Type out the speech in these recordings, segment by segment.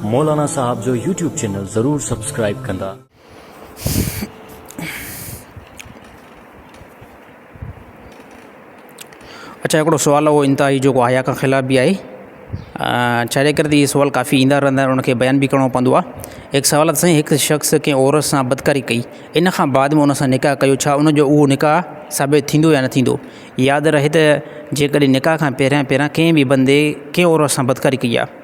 مولانا صاحب جو YouTube channel ضرور سبسڪرائيب ڪندا. اڇا هڪڙو سوال اهو انتهائي جيڪو آيا کان خلاف به آهي ڇا جي ڪري ته اهي سوال ڪافي ايندا رهندا آهن ان کي بيان به ڪرڻو پوندو آهي هڪ سوال آهي سائين هڪ شخص ڪنهن عورت سان بدڪاري ڪئي ان کان بعد ۾ ان سان نڪاح ڪيو ڇا ان جو اهو نڪاح ثابت ٿيندو يا نه ٿيندو ياد رهي ته جي ڪڏهن نڪاح کان پهريان پهريان ڪنهن به بندي ڪنهن عورت سان بدڪاري ڪئي آهي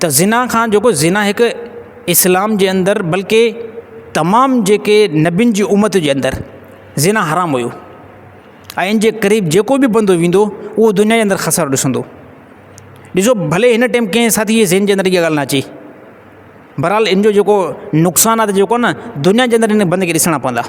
ته زنا کان جيڪو زنا هڪ اسلام جي اندر بلڪه تمام جيڪي نبين جي امت جي اندر زنا حرام هيو ۽ ان جي قريب جيڪو بي بندو ويندو هو دنيا جي اندر خسارو ڏسندو ڏسو ڀلي هن ٽيم ڪنهن ساٿي جي ذهن جي اندر اها ڳالهه نه اچي بهرحال ان جو جيڪو نقصان آهي جيڪو نه دنيا جي اندر ان بندي کي ڏسڻا پوندا